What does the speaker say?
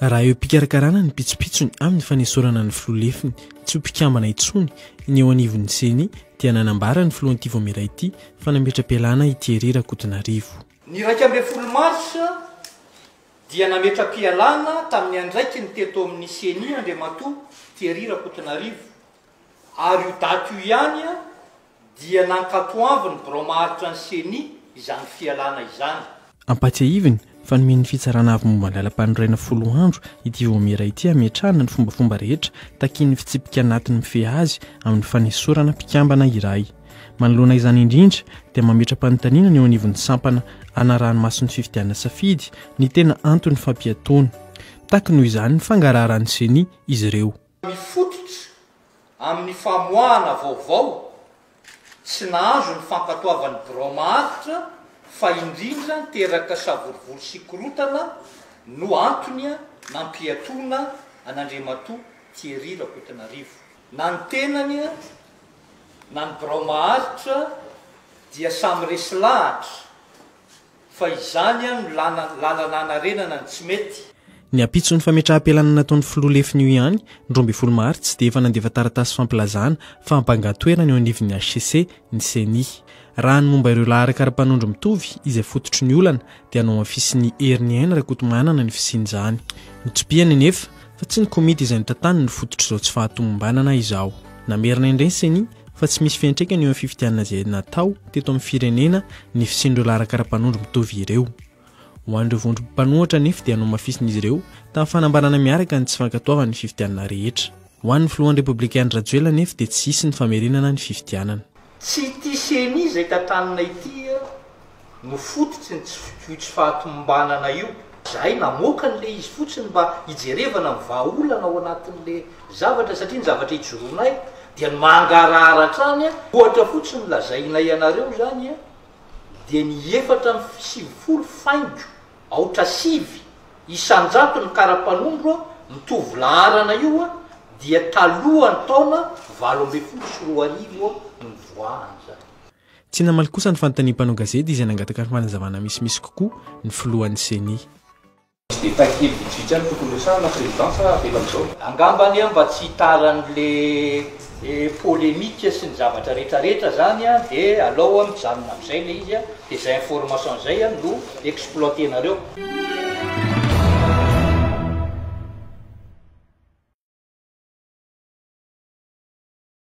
raha eo mpikarakarana ny pitsopitsony amin'ny fanesorana ny filoha lefiny tsy ho mpikambana intsony ny eo anivon'ny ceni dia nanambara ny filohan'ity vomera ity fa nametra-pialana ity herera kotonarivo ny iraika ambin'ny folo marsa dia nametra-pialana tamin'ny andraikiny teto amin'ny Ceni Andriamatoa Thierry Rakotonarivo ary io daty io ihany dia nankatoavin'ny birao maharitra ny Ceni izany fialana izany. Ampahatsiahiviny fa nomen'ny Fitsarana Avo momba ny Lalampanorenana folo andro ity vaomiera ity hametrahana ny fombafomba rehetra takian'ny fitsipika anatiny mifehy azy amin'ny fanesorana mpikambana iray. Manoloana izany indrindra dia mametra-panontaniana ny eo anivon'ny sampana anaraha-ny-maso ny fifidianana safidy ny tena anton'ny fampiatoana. Mitaky noho izany ny fangaraharan'ny ceni izy ireo. Mifototra amin'ny famoahana vaovao tsy nahazo ny fankatoavan'ny birao maharitra fa indrindra teraka savorovoro sy korotana no antony nampiatoana an'Andriamatoa Thierry Rakotonarivo. Na ny tenany na ny birao maharitra dia samy resy lahatra fa izany an no lalana hanarenana ny tsy mety. Ny ampitson'ny fametraham-pialana nataon'ny filoha lefiny io ihany, ny roa ambin'ny folo martsa, dia efa nandefa taratasy fampilazana fa hampangan-toerana eo anivon'ny hcc ny ceni. Raha ny momba ireo laharaka ara-panondro mitovy izay fototry ny olana dia nohamafisin'i Heriniaina Rakotomanana ny fisian'izany. Notsipihany anefa fa tsy ny komity izay notantaniny no fototr'izao tsy fahatomombanana izao. Namerina indray ny Ceni fa tsy misy fiantraikany eo amin'ny fifidianana izay natao teto amin'ny firenena ny fisian'ireo laharaka ara-panondro mitovy ireo. Ho an'ireo vondrom panohatra anefa dia nohamafisin'izy ireo tamin'ny fanambarana miaraka ny tsy fankatoavany ny fifidianana rehetra. Ho an'ny filohan'ny Repoblika Andry Rajoelina anefa dia tsy hisy ny famerenana ny fifidianana. Tsy ity ceni izay tantanina ity no fototry ny tsy io tsy fahatomombanana io. Zahay namoaka an'le izy fotsiny mba hijerevana ny vahaolana ao anatin'le zavatra satria ny zavatra ijoroanay dia ny mangarahara hatrany a! Ohatra fotsiny lazainay anareo zany dia ny efatra amby sivifolo faingo. Aotra sivy isan-jato ny karapanondro mitovy laharana io dia talohan'ny taona valo ambin'ny folo sy roa arivo no nivoahany izany. Tsy namaly kosa ny fanontanian'ny mpanao gazety izay nangataka fanazavana misimisy kokoa ny filohan'ny Ceni. Tsy dia tahin-kevitra vitsivitsy ihany no tokony resahana, Président, fa avela amin'izao. Angambany aho mba tsy hitaran'le le polemique sy ny zavatra rehetra rehetra zany a de alao a mijanona amizay le izy a de zay information zay a no exploiter nareo.